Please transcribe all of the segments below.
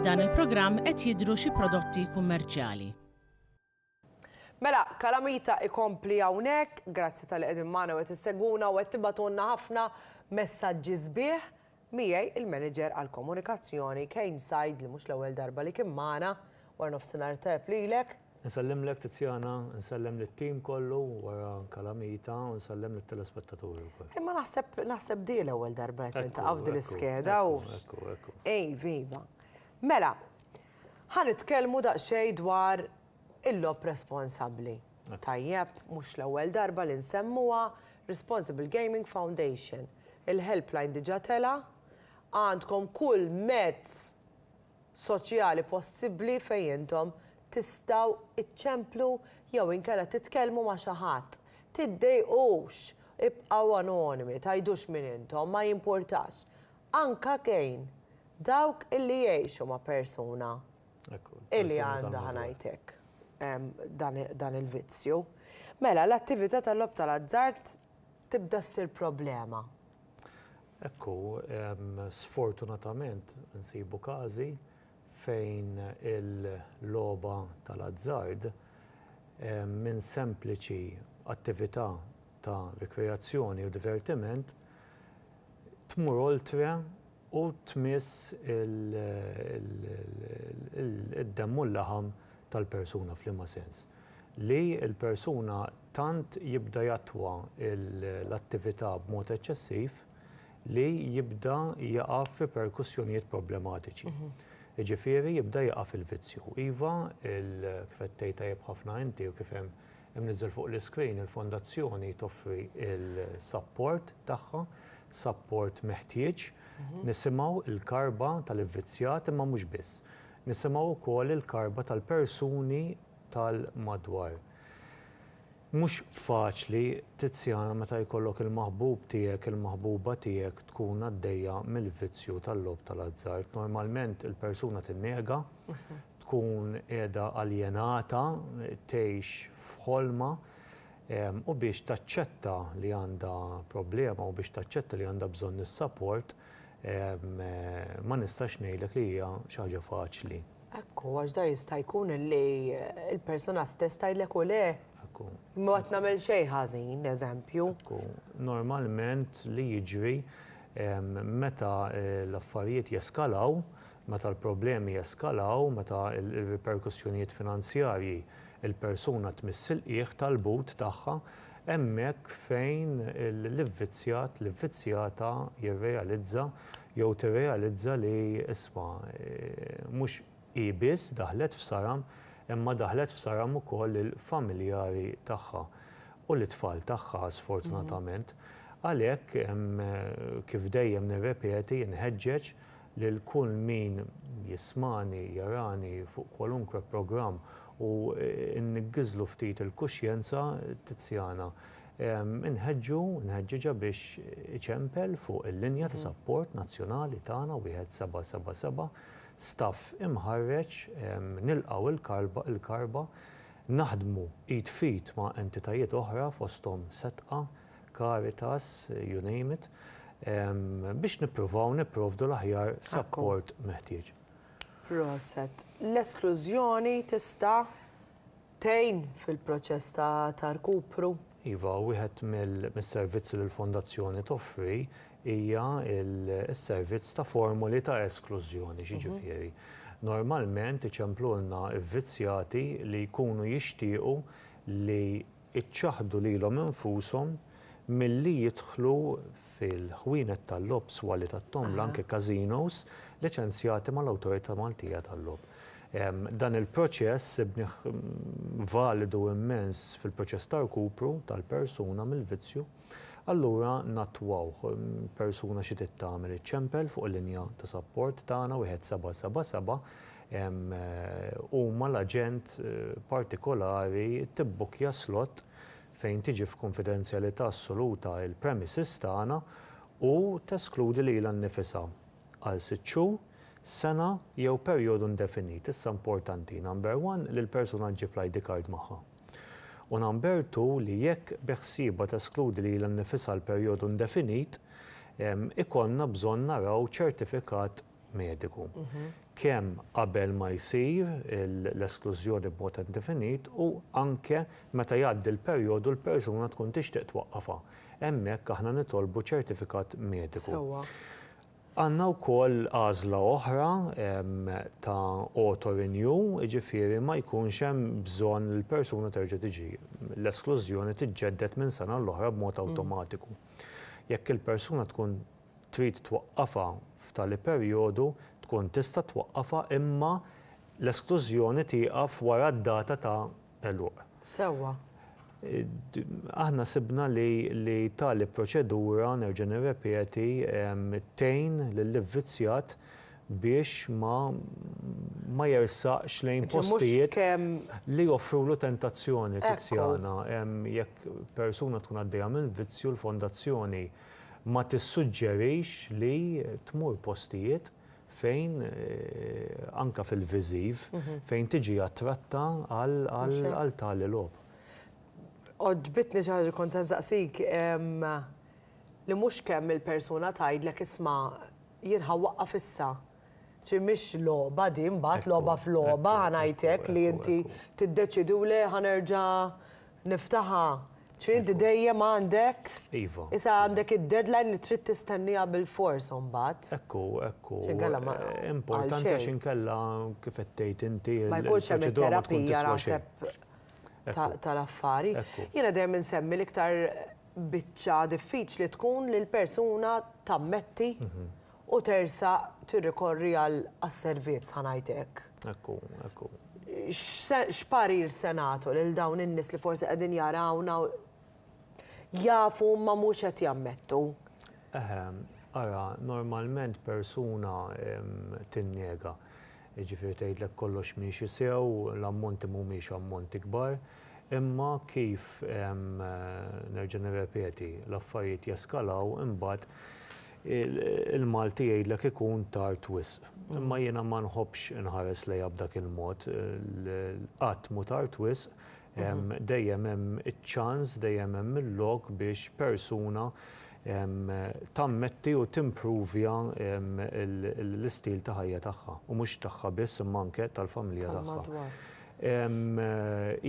F'dan il-programm qed jidhru xi prodotti kummerċjali. Mela, Kalamita ikompli hawnhekk, grazzi tal-li qegħdin magħna u qed issegwuna u qed tibgħatulna ħafna messaġġi sbieħ. Miegħi il-Manager għall-Komunikazzjoni Kane Said li mhux l-ewwel darba li kien magħna. Warnofsinhar tajjeb lilek. Insellimlek Tiziana, insellem lit-team kollu wara Calamita u nsellem lit-telespettaturi wkoll. Imma naħseb naħseb di l-ewwel darba qed niltaqgħu f'din l-iskeda u Iva, iva. Mela, ħa nitkellmu daqsxejn dwar Il-logħob responsabbli. Tajjeb, mhux l-ewwel darba li nsemmuha, Responsible Gaming Foundation. Il-helpline diġà tela', għandkom kull mezz soċjali possibbli fejn intom tistgħu iċċemplu jew inkella titkellmu ma' xi ħadd. Tiddejqux, ibqgħu anonimi, tgħidux min intom, ma jimpurtax. Anka kejn dawk illi jgħixu ma' persuna. Illi għandha ħanajt hekk dan il-vizzju. Mela, l-attività tal-logħob tal-azzard tibda ssir problema. Ekku, sfortunatament insibu każi fejn il-logħba tal-azzard minn sempliċi attività ta' rikreazzjoni u divertiment tmur oltre u tmiss id-demm u l-laħam tal-persuna, f'liema sens? Li l-persuna tant jibda jattwa l-attività b'mod eċċessiv li jibda jaqa' f'riperkussjonijiet problematiċi. Jiġifieri jibda jaqa' fil-vizzju. Iva, kif qed tgħid tajjeb ħafna inti u kif hemm Imniżżel fuq l-iskrin, il-Fondazzjoni toffri l-sapport tagħha, sapport meħtieġ. Nisimgħu l-karba tal-ivvizzjat imma mhux biss. Nisimgħu wkoll il-karba tal-persuni tal-madwar. Mhux faċli, Tiziana, meta jkollok il-maħbub tiegħek, il-maħbuba tiegħek tkun għaddejja mill-vizzju tal-logħob tal-azzard. Normalment il-persuna tinnega, tkun qiegħda aljenata, tgħix f'ħolma, u biex taċċetta li għandha problema u biex taċċetta li għandha bżonn is-sapport, ma nistax ngħidlek li hija xi ħaġa faċli. Hekk hu, għax da jista' jkun li l-persuna stess tgħidlek u le. Hekk hu. Imma qatt nagħmel xejn ħażin, eżempju. Hekk hu. Normalment li jiġri meta l-affarijiet jeskalaw, Meta l-problemi jeskalaw, meta r-riperkussjonijiet finanzjarji l-persuna tmiss il-qiegħ tal-but tagħha, hemmhekk fejn l-ivvizzjat, l-ivvizzjata jirrealizza jew tirrealizza li, isma', mhux hi biss daħlet f'saram imma daħlet f'saram ukoll lill-familjari tagħha u lit-tfal tagħha sfortunatament. Għalhekk, kif dejjem nirrepeti, inħeġġeġ lil kull min jismagħni, jarani fuq kwalunkwe programm u nniggiżlu ftit il-kuxjenza, Tiziana. Inħeġġu, nħeġġiġha biex iċempel fuq il-linja ta' sapport nazzjonali tagħna 1777, staff imħarreġ, nilqgħu il-karba, naħdmu id f'id ma' entitajiet oħra fosthom Setqa, Caritas, you name it, biex nippruvaw nipprovdu l-aħjar sapport meħtieġ. Proset. L-esklużjoni tista' tgħin fil-proċess ta' rkupru? Iva, wieħed mis-servizzi li l-Fondazzjoni toffri hija s-servizz ta' formoli ta' esklużjoni, jiġifieri. Normalment iċemplulna vvizzjati li jkunu jixtiequ li iċċaħħdu lilhom infushom milli jidħlu fil-ħwienet tal-logħob, swali tat-tombla, anke casinos, liċenzjati mal-Awtorità Maltija tal-Logħob. Dan il-proċess sibnih validu immens fil-proċess ta' rkupru tal-persuna mill-vizzju. Allura nattwawh. Persuna xi trid tagħmel iċċempel fuq il-linja ta' sapport tagħna 1777 huma l-aġent partikolari tibbukkja slott fejn tiġi f'kunfidenzjalità assoluta l-premises tagħna u teskludi lilha nnifisha għal sitt xhur, sena jew perjodu indefinit, issa importanti, number one, li l-persuna ġġib l-ID card magħha, u number two, li jekk beħsiebha teskludi lilha nnifisha għal perjodu indefinit, ikollna bżonn naraw ċertifikat mediku, kemm qabel ma jsir l-esklużjoni b'mod indefinit u anke meta jgħaddi l-perjodu u l-persuna tkun tixtieq twaqqafha. Hemmhekk aħna nitolbu ċertifikat mediku. Għandna wkoll għażla oħra ta' auto renew, jiġifieri ma jkunx hemm bżonn li l-persuna terġa' tiġi. L-esklużjoni tiġġedded minn sena għall-oħra b'mod awtomatiku. Jekk il-persuna tkun trid twaqqafha f'tali perjodu, tkun tista' twaqqafha imma l-esklużjoni tieqaf wara d-data ta' għeluq. Sewwa. Aħna sibna li li tali proċedura, nerġa' nirrepeti, tgħin lill-ivvizzjat biex ma ma jersaqx lejn postijiet li joffrulu tentazzjoni. Tiziana, Jekk persuna tkun għaddejja minn vizzju, l-fondazzjoni Ma tissuġġerix li tmur postijiet fejn, anke fil-viżiv, fejn tiġi attratta għal tali logħob. Għoġbitni xi ħaġa li kont se nsaqsik, li mhux kemm il-persuna tgħidlek isma' jien ħa waqqaf issa. Ċi mhix logħba din mbagħad, logħba f'logħba ħa ngħidlek li inti tiddeċiedi u le ħa nerġa' niftaħha. Ċi inti dejjem għandek, issa għandek id-deadline li trid tistennieha bilfors imbagħad. Hekk hu, hekk hu. Importanti għax inkella kif qed tgħid inti l-proċedura ma tkun tiswa xejn. Ma jkunx hemm it-terapija tal-affari. Jiena dejjem insemmi l-iktar biċċa diffiċli tkun li l-persuna tammetti u tersaq tirrikorri għal għas-servizz ħa ngħid hekk. Hekk hu, hekk hu. X'se x'parir se nagħtu lil dawn in-nies li forsi qegħdin jarawna u jafu imma mhux qed jammettu? Eħe, ara, normalment persuna tinnega. Jiġifieri tgħidlek kollox miexi sew, l-ammonti mhumiex ammonti kbar, imma kif nerġa' nirrepeti, l-affarijiet jeskalaw imbagħad Il-Malti jgħidlek ikun tard wisq. Imma jiena ma nħobbx inħares lejha b'dak il-mod. Qatt mhu tard wisq, dejjem hemm iċ-ċans, dejjem hemm il-lok biex persuna tammetti u timpruvja l-istil ta' ħajja tagħha. U mhux tagħha biss, imma anke tal-familja tagħha.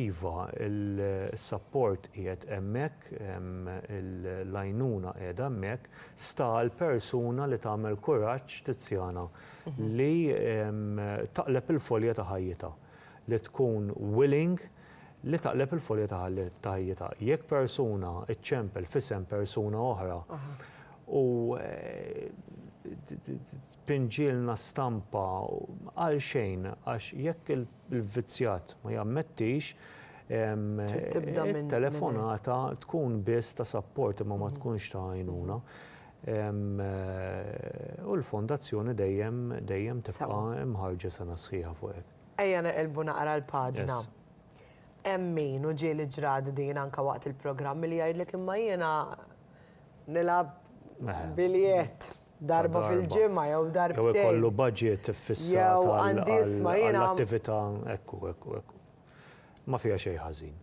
Iva, is-sapport qiegħed hemmhekk, l-għajnuna qiegħda hemmhekk, Sta għall-persuna li tagħmel kuraġġ Tiziana li taqleb il-folja ta' ħajjitha, li tkun willing li taqleb il-folja ta' ħajjitha. Jekk persuna ċċempel f'isem persuna oħra u Pinġielna stampa għalxejn għax jekk il-vvizzjat ma jammettix, it-telefonata tkun biss ta' sapport imma ma tkunx ta' għajnuna. U l-Fondazzjoni dejjem, dejjem tibqa' mħarrġa sena sħiħa fuq hekk. Ejja neqilbu naqra l-paġna. Hemm min, u ġieli ġrat din anke waqt il-programmi, li jgħidlek imma jiena nilgħab biljett. darba fil-ġimgħa jew darbtejn. Jew ikollu budget iffissat għall-attività, ekku, ekku, ekku. Ma fiha xejn ħażin.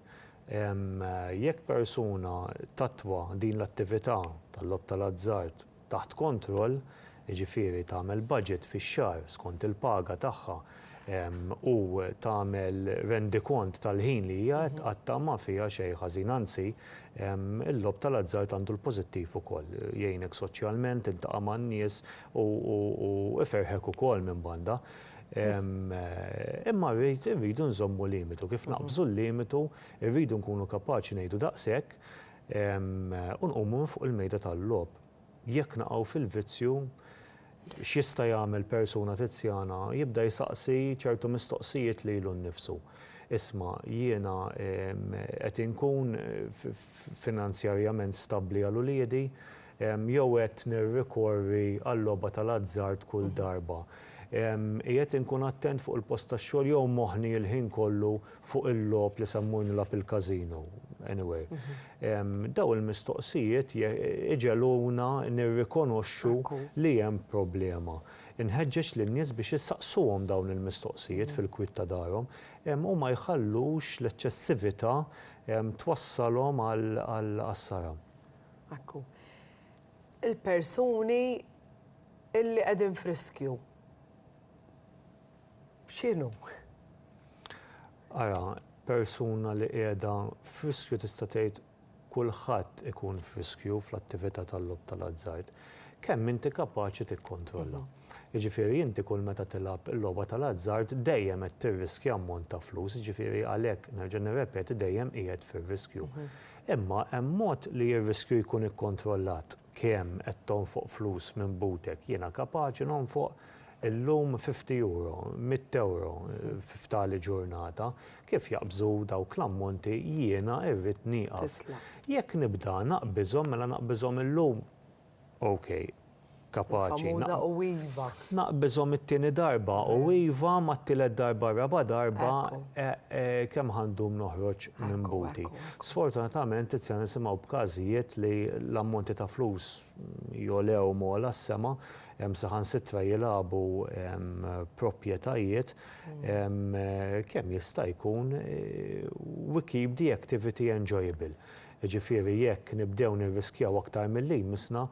Jekk persuna tattwa din l-attività tal-logħob tal-azzard taħt kontroll, jiġifieri tagħmel budget fix-xahar skont il-paga tagħha u tagħmel rendikont tal-ħin li hija qed tqatta' ma fiha xejn ħażin, anzi, il-logħob tal-azzard għandu l-pożittiv ukoll, jgħinek soċjalment, tiltaqa' man-nies u iferrħek ukoll minn banda. Imma rrid, irridu nżommu limitu, kif naqbżu l-limitu rridu nkunu kapaċi ngħidu daqshekk u nqumu minn fuq il-mejda tal-logħob. Jekk naqgħu fil-vizzju, x'jista' jagħmel persuna tizjana? Jibda jsaqsi ċertu mistoqsijiet lilu nnifsu. Isma', jiena qed inkun finanzjarjament stabbli għal uliedi jew qed nirrikorri għal-logħba tal-azzard kull darba? Qiegħed inkun attent fuq il-post tax-xogħol jew moħħni l-ħin kollu fuq il-logħob li semmu nilgħab il-casino, anyway. Dawn il-mistoqsijiet iġegħluna nirrikonoxxu li hemm problema. Inħeġġeġ lin-nies biex isaqsuhom dawn il-mistoqsijiet fil-kwiet ta' darhom u ma jħallux l-eċċessività twassalhom għal għassara. Ekku. Il-persuni li qegħdin f'riskju. x'inhu? Ara, persuna li qiegħda f'riskju tista' tgħid kulħadd ikun f'riskju fl-attività tal-logħob tal-azzard, kemm inti kapaċi tikkontrolla. Jiġifieri inti kull meta tilgħab il-logħba tal-azzard dejjem qed tirriskja ammont ta' flus, jiġifieri għalhekk, nerġa' nirrepeti, dejjem qiegħed fir-riskju. Imma hemm mod li r-riskju jkun ikkontrollat. Kemm qed tonfoq flus minn butek? Jiena kapaċi nonfoq illum fifty euro, mitt ewro, fi f'tali ġurnata. Kif jaqbżu dawk l-ammonti jiena irrid nieqaf. Jekk nibda naqbiżhom mela naqbiżhom illum? Ok. Kapaċi. Naqbiżhom it-tieni darba u iva mat-tielet darba r-raba' darba kemm ħa ndum noħroġ minn buti. Sfortunatament issa nisimgħu b'każijiet li l-ammonti ta' flus jogħlew m'għola s-sema, hemm saħansitra jilagħbu proprjetajiet, kemm jista' jkun we keep the activity enjoyable. Jiġifieri jekk nibdew nirriskjaw aktar milli jmissna,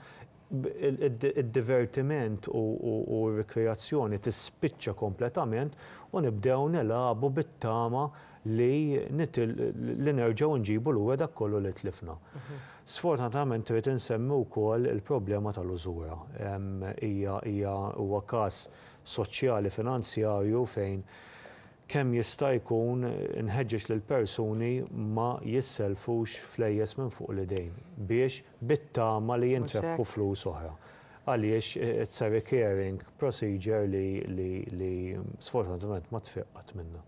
id-divertiment u r-rikreazzjoni tispiċċa kompletament u nibdew nilagħbu bit-tama li li nerġgħu nġibu lura dak kollu li tlifna. Sfortunatament irrid insemmi wkoll il-problema tal-użura. Hija hija huwa każ soċjali finanzjarju fejn Kemm jista' jkun inħeġġeġ lill-persuni ma jissellfux flejjes minn fuq l-idejn biex bit-tama li jintrebħu flus oħra. Għaliex it's a recurring procedure li li li sfortunatament ma tfiq qatt minnha.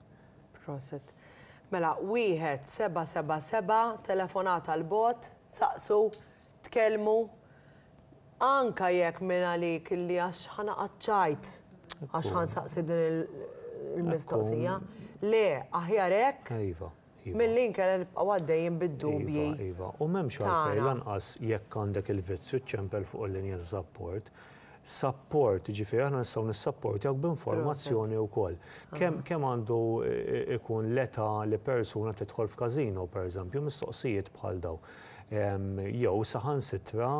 Proset. Mela, wieħed seba' seba' seba' telefonata l-bogħod, saqsu Tkellmu, anka jekk minn għalik li għax ħa naqgħad ċajt għax ħa nsaqsi din il-mistoqsija. Le, aħjar hekk. Iva, iva. Milli nkella nibqgħu għaddejjin bid-dubji. Iva, iva. U m'hemmx għalfejn lanqas jekk għandek il-vizzju ċċempel fuq il-linja taż-żapport, Sapport, jiġifieri aħna nistgħu nissapportjawk b'informazzjoni wkoll. Kemm kemm għandu jkun l-età li persuna tidħol f'każino, pereżempju, mistoqsijiet bħal dawn. Jew saħansitra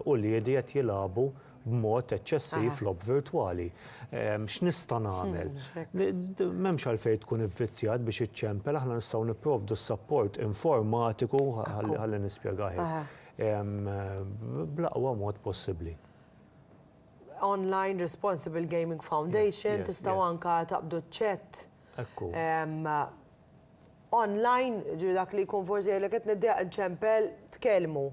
uliedi qed jilagħbu b'mod eċċessiv logħob virtwali. X'nista' nagħmel? M'hemmx għalfejn tkun ivvizzjat biex iċċempel, aħna nistgħu nipprovdu s-sapport informatiku, ħalli nispjegah hekk. bl-aqwa mod possibbli. Online Responsible Gaming Foundation, tistgħu anke taqbdu ċ-chat online, jiġifieri dak li jkun forsi jgħidlek qed niddiegħek inċempel, tkellmu.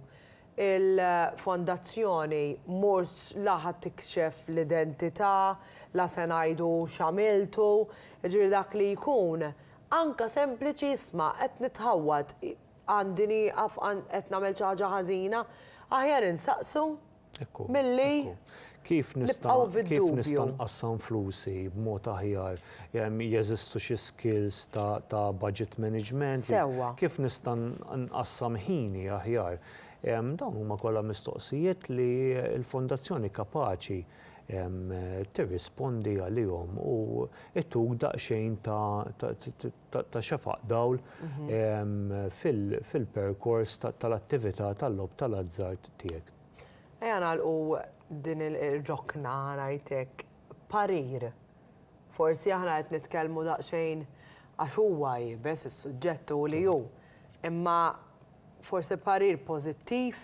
Il-fondazzjoni mhux la ħa tikxef l-identità, la se ngħidu x'għamiltu, jiġifieri dak li jkun anke sempliċi isma' qed nitħawwad, Għandi nieqaf qed nagħmel xi ħaġa ħażina? Aħjar insaqsu milli nibqgħu fid-dubju. Kif nista' nqassam flusi b'mod aħjar? Jeżistu xi skills ta' budget management? Kif nista' nqassam ħini aħjar? Dawn huma kollha mistoqsijiet li l-Fondazzjoni kapaċi tirrispondi għalihom u ttuk daqsxejn ta' ta' xefaq dawl fil-perkors tal-attività tal-logħob tal-azzard tiegħek. Ejja nagħlqu din ir-rokna ħa ngħid hekk, parir. Forsi aħna qed nitkellmu daqsxejn għax huwa iebes is-suġġett hu li hu, imma forsi parir pożittiv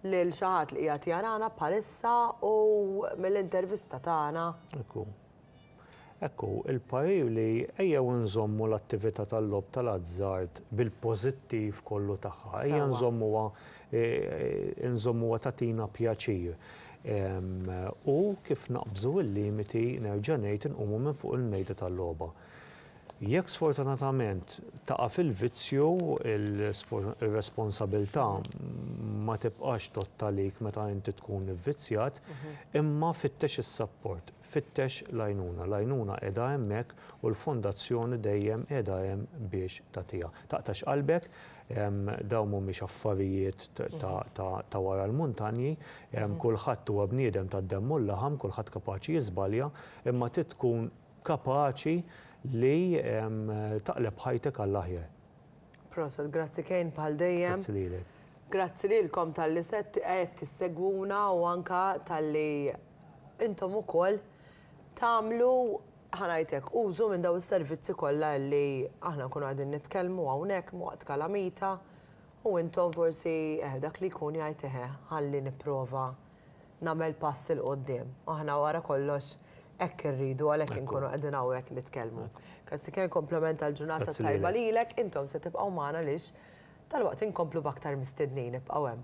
lil xi ħadd li qiegħed jarana bħalissa u mill-intervista tagħna. Hekk hu. Hekk hu, il-parir li ejjew inżommu l-attività tal-logħob tal-azzard bil-pożittiv kollu tagħha, ejja nżommuha nżommuha tagħtina pjaċir u kif naqbżu l-limiti, nerġa' ngħid, inqumu minn fuq il-mejda tal-logħba. Jekk sfortunatament taqa' fil-vizzju, ir-responsabilità ma tibqax tgħodd għalik meta inti tkun ivvizzjat, imma fittex is-sapport. Fittex l-għajnuna. L-għajnuna qiegħda hemmhekk u l-Fondazzjoni dejjem qiegħda hemm biex tagħtiha. Taqtax qalbek, dawn mhumiex affarijiet ta' wara l-muntanji, kulħadd huwa bniedem tad-demm u l-laħam, kulħadd kapaċi jiżbalja, imma trid tkun kapaċi li taqleb ħajtek għall-aħjar. Proset, grazzi Kane bħal dejjem. Grazzi lilek. Grazzi lilkom tal-li set qed tissegwuna u anka tal-li intom ukoll tagħmlu ħanajtek użu minn daw is-servizzi kollha li aħna nkunu qegħdin nitkellmu hawnhekk waqt kalamita u intom forsi eh dak li jkun jgħid eh ħalli nipprova nagħmel pass 'il quddiem. Aħna wara kollox hekk irridu għalhekk inkunu qegħdin hawnhekk nitkellmu. Grazzi Ken, kompliment għall-ġurnata tajba lilek, intom se tibqgħu magħna għaliex dalwaqt inkomplu b'aktar mistednin, ibqgħu hemm.